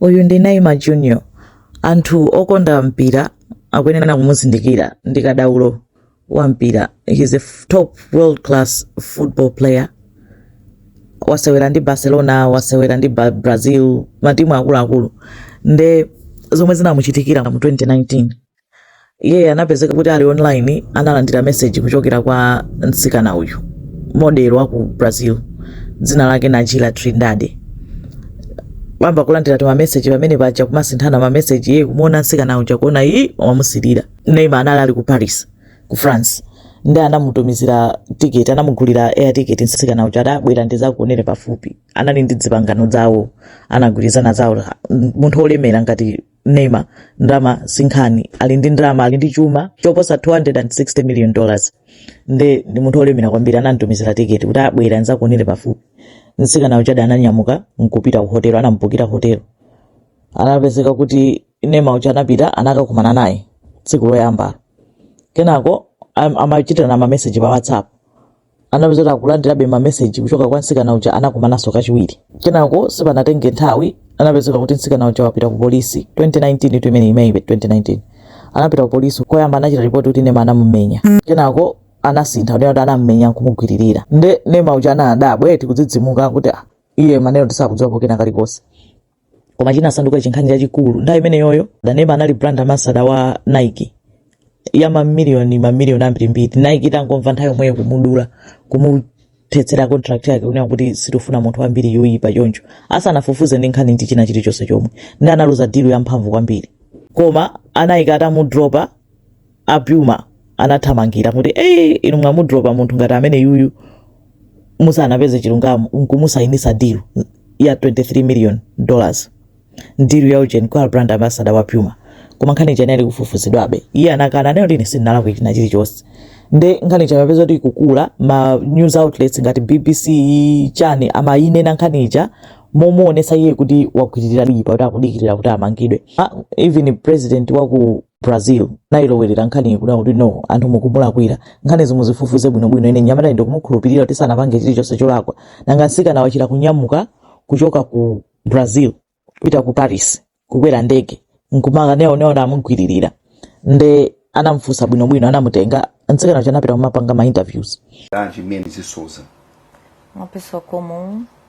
Uyu ndi Neymar Junior. Anthu okonda mpira akuyenera kumuzindikira ndi kadaulo wa mpira. He is a top world class football player. Wasewera ndi Barcelona, wasewera ndi Brazil, matimu akuluakulu. Nde zomwe zinamuchitikira mu 2019 iye anapezeka kuti ali online analandira meseji kuchokera kwa mtsikana uyu model wa ku brazil dzina lake najila trindade ayamba kulandira timameseji pamene paja kumasinthana mameseji iye kumuona mtsikana uja kuona iyi wamusilira neymar anali ali ku paris ku france nde anamutumizira tiketi anamugulira air ticket mtsikana uja ati bwera ndizakuonere pafupi anali ndi dzipangano zawo anagwirizana zawo munthu olemera ngati neymar ndalama sinkhani ali ndi ndalama ali ndi chuma choposa 260 million dollars nde ndi munthu olemera kwambiri anamtumizira tiketi kuti bwera nzakuonere pafupi mtsikana uja ananyamuka nkupita ku hotelo anamubukira hotelo anapezeka kuti neymar uja anapita anakakumana naye tsiku loyambalo kenako amachitirana mameseji pa whatsapp anapezeka kuti akulandirabe mameseji kuchoka kwa mtsikana uja anakumananso kachiwiri kenako sipanatenge nthawi anapezeka kuti mtsikana uja wapita ku polisi 2019 tu imeneyi imeneyibe 2019 anapita ku polisi koyamba anachita ripoti kuti neymar anamumenya kenako anasintha kuti kuti anamumenya nkumugwiririra nde neymar uja anadabwa eti kudzidzimuka kuti "Ah, iye maneno ati sakudziwa pokena kalikonse koma chinasanduka chinkhani chachikulu nthawi imeneyoyo neymar anali brand ambassador wa nike ya mamiliyoni mamiliyoni ambirimbiri nike itangomva nthawi yomweyo kumudula kumuthetsera contract yake kunena kuti sitifuna munthu wambiri yoyipa choncho asanafufuze ndi nkhani ndi china chilichonse chomwe nde analuza deal yamphamvu kwambiri koma a nike atamudropa a Puma anathamangira kuti ee inu mwamudropa munthu ngati ameneyuyu musanapeze chilungamo nkumusainisa deal ya 23 million dollars deal ya ujeni kukhala brand ambassador wa Puma koma nkhani ija inali kufufuzidwabe iye anakana nayo ati ine sindinalakwe china chilichonse nde nkhani ija imapezeka kuti ikukula ma news outlets ngati BBC chani amayinena nkhani ija momuonesa iye kuti wagwiririra lipa kuti akudikirira kuti amangidwe ah, even president wa ku Brazil anayilowerera nkhaniyi kunena kuti no anthu mukumulakwira nkhanizi muzifufuze bwinobwino ine nyamatayu ndikumukhulupirira kuti sanapange chilichonse cholakwa nanga mtsikana wachita kunyamuka kuchoka ku brazil kupita ku paris kukwera ndege nkumakanena kuti amugwiririra nde anamfunsa bwinobwino anamutenga mtsikana uja anapita kumapanga ma interviews Anji Mendes de Souza. Uma pessoa comum,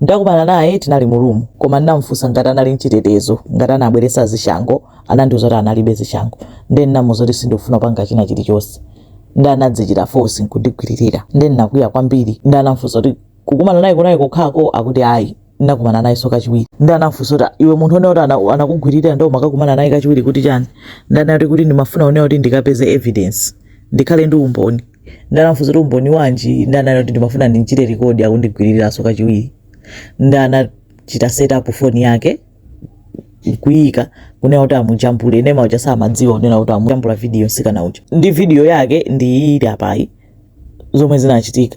Ndakumana naye tinali mu room koma ndinamufunsa ngati anali nchitetezo ngati anabweretsa zishango anandiuza kuti analibe zishango nde ndinamuuza kuti sindikufuna kupanga china chilichonse nde anadzichita force nkundigwililira nde ndinakwiya kwambiri nde anamfunsa kuti kukumana naye kunali kokhako akuti ayi ndinakumana nayenso kachiwiri nde anamfunsa kuti iwe munthu ukunena kuti ana- anakugwililira nde umakakumana naye kachiwiri kuti chani nde anati kuti ndimafuna kunena kuti ndikapeze evidence ndikhale ndi umboni nde anamfunsa kuti umboni wanji nde ananena kuti ndimafuna ndinchite record akundigwiriranso kachiwiri nde anachita set up phone yake kuika kunena kuti amujambule Neymar uja samadziwa kunena kuti amujambula video mtsikana uja ndi video yake ndi ili apayi zomwe zinachitika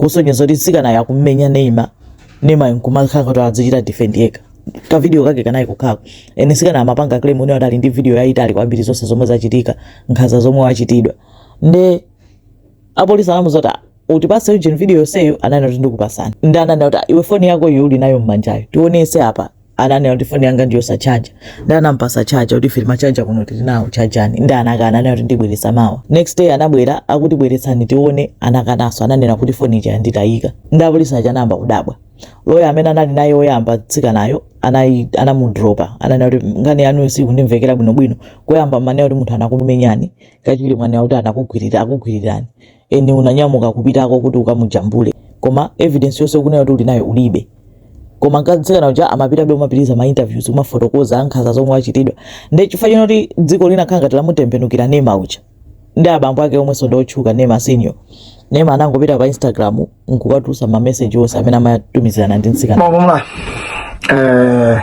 kusonyeza kuti mtsikanayo akumumenya Neymar Neymar nkumakhala kuti adzichita defend yekha ka video kake kanali kukhako ene mtsikana amapanga claim kunena kuti ali ndi video yayitali kwambiri zonse zomwe zachitika nkhanza zomwe wachitidwa nde apolisi anamuuza kuti utipase ujeni video yonseyo ananena kuti ndikupasani nde ananena kuti "Ah, iwe foni yako iyo uli nayo mmanjayo tionese apa ananena kuti foni yanga ndi yosachaja nde anampasa chaja kuti ife timachaja kuno tili nawo chajani nde anakana ananena kuti ndibweresa mawa next day anabwera akuti bweretsani tione anakananso ananena kuti foni ija yanditayika nde apolisi aja anayamba kudabwa loya amene anali naye woyamba mtsikanayo anayi- anamudropa ananena kuti nkhani yanu sikundimvekera bwinobwino koyamba mmanena kuti munthu anakumenyani kachiwiri mwanena kuti anakugwirira akugwirirani eni unanyamuka kupitako kuti ukamujambule koma evidence yonse ukunena kuti uli nayo ulibe koma mtsikana uja amapitabe kumapitiriza ma interviews kumafotokoza nkhanza zomwe achitidwa nde chifukwa chonena kuti dziko linakhala ngati lamutembenukira Neymar uja nde abambo ake omwenso ndi otchuka Neymar senior Neymar anangopita pa instagram nkukatulutsa ma message onse amene amatumizirana ndi mtsikana Bom, vamos lá. Eh,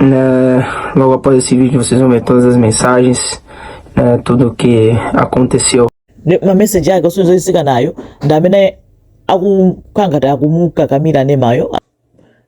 É, logo após esse vídeo vocês vão ver todas as mensagens, é, tudo o que aconteceu. Ma message yake osonyeza kuti mtsikanayo ndi amene akukhala ngati akumukakamira Neymar yo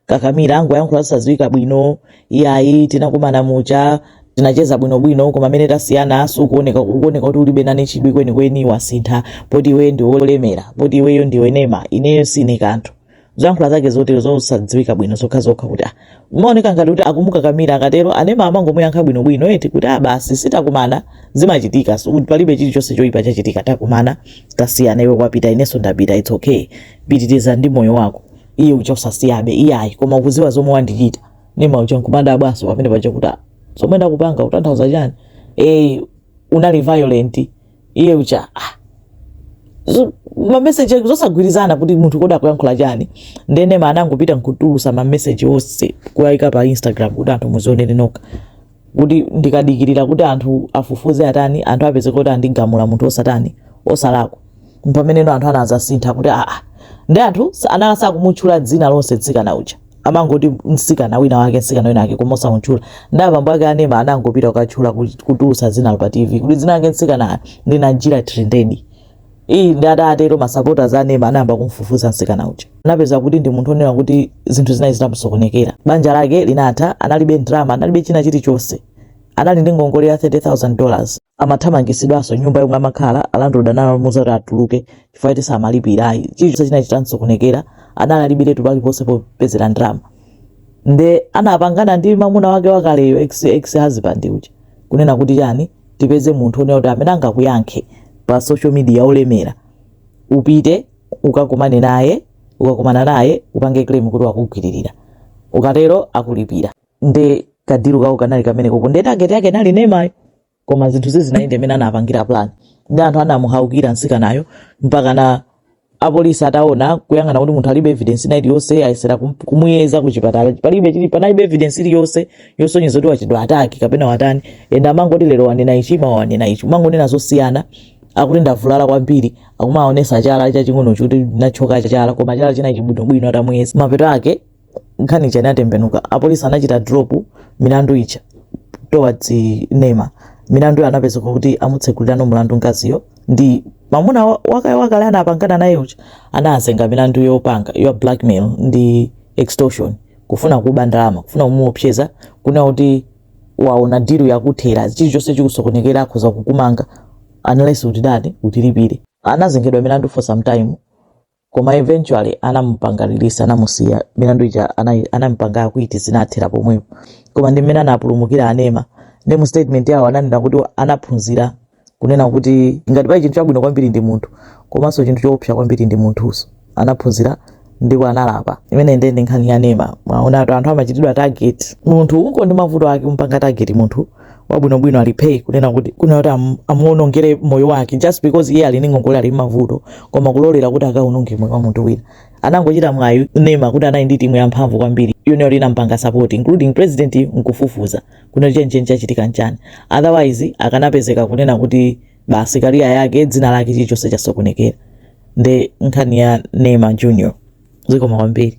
kakamira akungoyankhula zosadziwika bwino iyayi tinakumana muja tinacheza bwinobwino koma mmene tasiyana sukuoneka kuoneka kuti ulibe nane chidwi kwenikweni wasintha poti iwe ndiwe wolemera poti iweyo ndiwe Neymar ineyo sine kanthu zoyankhula zake zotero zosadziwika bwino zokhazokha kuti ah, umaoneka ngati kuti akumukakamira akatero a Neymar amangomuyankha bwinobwino eti kuti ah, basi si takumana zimachitika so, kuti palibe chilichonse choyipa chachitika takumana tasiyana iwe wapita inenso ndapita it's okay pitiriza ndi moyo wako iye uja osasiyabe iyayi koma ukudziwa zomwe wandichita Neymar uja nkumadabwanso pamenepaja kuti ah, zomwe ndakupanga utanthauza chani eh, unali violent iye uja ah, zo- mameseji ake zosagwirizana kuti munthu kodi akuyankhula chani nde Neymar anangopita nkutulutsa mameseji onse kuwayika pa instagram kuti anthu muzionere nokha kuti ndikadikirira kuti anthu afufuze atani anthu apeze kuti andigamula munthu osatani osalakwa mpameneno anthu anadzasintha kuti aa ndi anthu sa- anali sakumutchula dzina lonse mtsikana uja amangoti mtsikana wina wake mtsikana wina wake koma osamutchula ndi abambo ake a Neymar anangopita kukatchula kuti- kutulutsa dzina pa tv kuti dzina lake mtsikana ndi Najila Trindade eya nde atatero masapota a Neymar anayamba kumfufuza mtsikana uja anapeza kuti ndi munthu onena kuti zinthu zina- zinamusokonekera banja lake linatha analibe ndalama analibe china chilichonse anali ndi ngongole ya 30000 dollars amathamangitsidwanso m'nyumba yomwe amakhala alandlord analamuza kuti atuluke chifukwa choti samalipira ayi chilichonse chinachita kusokonekera analibe analibiretu paliponse popezera ndalama nde anapangana ndi mamuna wake wakaleyo ex, ex husband uja kunena kuti chani tipeze munthu onena kuti amene angakuyankhe pa social media olemera upite ukakumane naye ukakumana naye upange claim kuti wakugwiririra ukatero akulipira nde kadiru kawo kanali kamenekoko nde target yake inali Neymar-yo koma zinthu sizinayende mmene anapangira plan ndi anthu anamuukira mtsikanayo mpaka na apolisi ataona kuyang'ana kuti munthu alibe evidence ina iliyonse ayesere kum- kumuyeza ku chipatala palibe chili panalibe evidence iliyonse yosonyeza kuti wachitidwa attack kapena watani ende amangoti lero wanena ichi mawa wanena ichi kumangonena zosiyana akuti ndavulala kwambiri akumaonesa chala chaching'onocho kuti ndathyoka chala koma chala chili chabwinobwino atamuyeza mapeto ake nkhani ija inatembenuka apolisi anachita drop milandu ija towards Neymar milandu anapezeka kuti amutsegulira no mlandu mkaziyo ndi mamuna wa- wakayo wakale anapangana naye uja anazengedwa milandu yopangayo blackmail ndi extortion kufuna kuba ndalama kufuna kumuopseza kunena kuti waona dilu ikuthera chilichonse chikusokonekera akhoza kukumanga unless utitani utilipire anazengedwa milandu for some time koma eventually anamupanga release anamusiya milandu ija anai- anamupanga acquit zinathera pomwepo koma ndi mmene anapulumukira a Neymar ndi mu statement yawo ananena kuti anaphunzira kunena kuti ngati pali chinthu chabwino kwambiri ndi munthu komanso chinthu choopsa kwambiri ndi munthunso anaphunzira ndipo analapa imeneyo ndi ndi nkhani ya Neymar mwaona anthu amachitidwa target munthu ungoti ndi mavuto ake kumpanga target munthu wabwinobwino ali phee kunena kuti kunena kuti am- amuonongere moyo wake just because iye ali ndi ngongole ali mavuto koma kulolera kuti akaononge moyo wa munthu wina anangochita mwayi Neymar kuti anali ndi timu yamphamvu kwambiri yoti inampanga support including president nkufufuza kunena chenicheni chachitika nchani otherwise akanapezeka kunena kuti basi kariya yake dzina lake chilichonse chasokonekera ndi nkhani ya Neymar Junior zikomo kwambiri